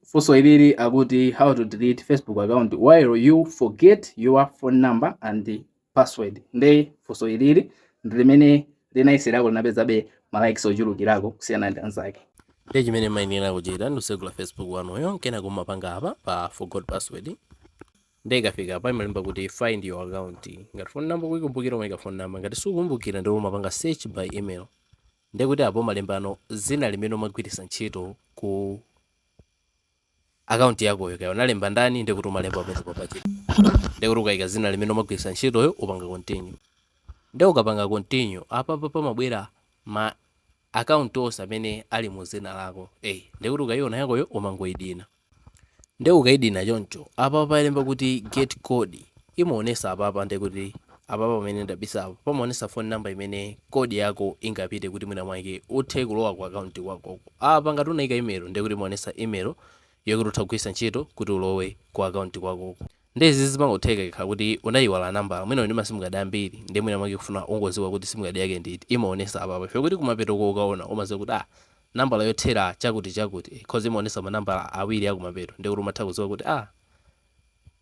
Funso ilili akuti how to delete Facebook account while you forget your phone number and password. Nde funso ilili ndi limene linayeserako linapezabe ma likes ochulukirako kusiyana ndi anzake. Nde chimene muyenera kuchita ndi kutsegula Facebook wanuyo nkena kumapanga apa pa forgot password. Nde ikafika apa imalemba kuti find your account. Ngati phone number ukuikumbukira umaika phone number. Ngati sukumbukira nde umapanga search by email. Ndiye kuti apo umalembano zina limene umagwiritsa ntchito ku akaunti yakoyo kaya unalemba ndani ndiye kuti umalemba pamene apapa ndiye kuti ukayika zina limene umagwiritsa ntchitoyo umapanga continue ndiye ukapanga continue apapa pamabwera ma akaunti onse amene ali mu zina lako eyi ndiye kuti ukayiona yakoyo umangoyidina Nde ukaidina choncho apapa palemba kuti get code imaonesa apapa ndekuti apapa pamene ndabisapa pamaonesa phone number imene code yako ingapite kuti mwina mwake uthe kulowa ku account kwakoko apa ngati unaika email ndekuti imaonesa email yokuti utha kugwirisa ntchito kuti ulowe ku account kwakoko nde izizi zimangotheka ikakhala kuti unaiwala nambala mwina uli ndi ma sim card ambiri nde mwina mwake ukufuna ungoziwa kuti sim card yake ndi iti imaonesa apapa chokuti kumapetoko ukaona umaziwa kuti ah nambala yothera chakuti chakuti coz imaonesa manambala awiri akumapeto ndekuti umatha kuziwa kuti aah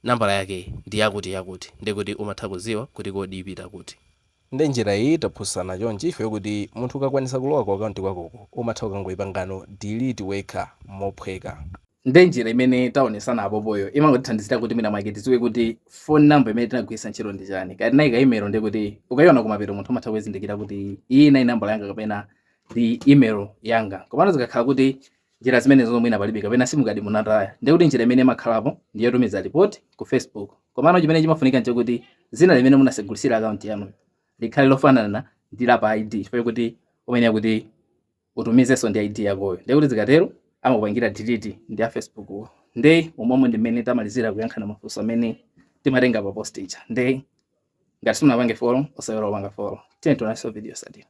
nambala yake ndi yakuti yakuti ndekuti umatha kuziwa kuti code ipita kuti. Nde njira iyi taphunzisana chonchi ife kuti munthu ukakwanisa kulowa ku account kwakoko umatha kukangoipangano delete wekha mophweka. Nde njira imene taonesana apopoyo imangotithandizira kuti mwina mwake tiziwe kuti phone number imene tinagwirisa ntchito ndi chani kaya tinaika email ndekuti ukaiona kumapeto munthu umatha kuizindikira kuti iyi inali nambala yanga kapena ndi email yanga komano zikakhala kuti njira zimenezo zomwe ina palibe kapena simukadi munataya ndiye kuti njira imene imakhalapo ndi yotumiza report ku facebook komano chimene chimafunika nchokuti zina limene munasegulira akaunti yanu likhale lofanana ndi la pa id chifukwa kuti umayenera kuti utumizenso ndi id yakoyo ndiye kuti zikatero amakupangira delete ndi a facebook wo nde umomo ndi mmene tamalizira kuyankha mafunso amene timatenga pa post ija nde ngati simunapange follow osaiwala kupanga follow tiyeni tionanenso video yosatira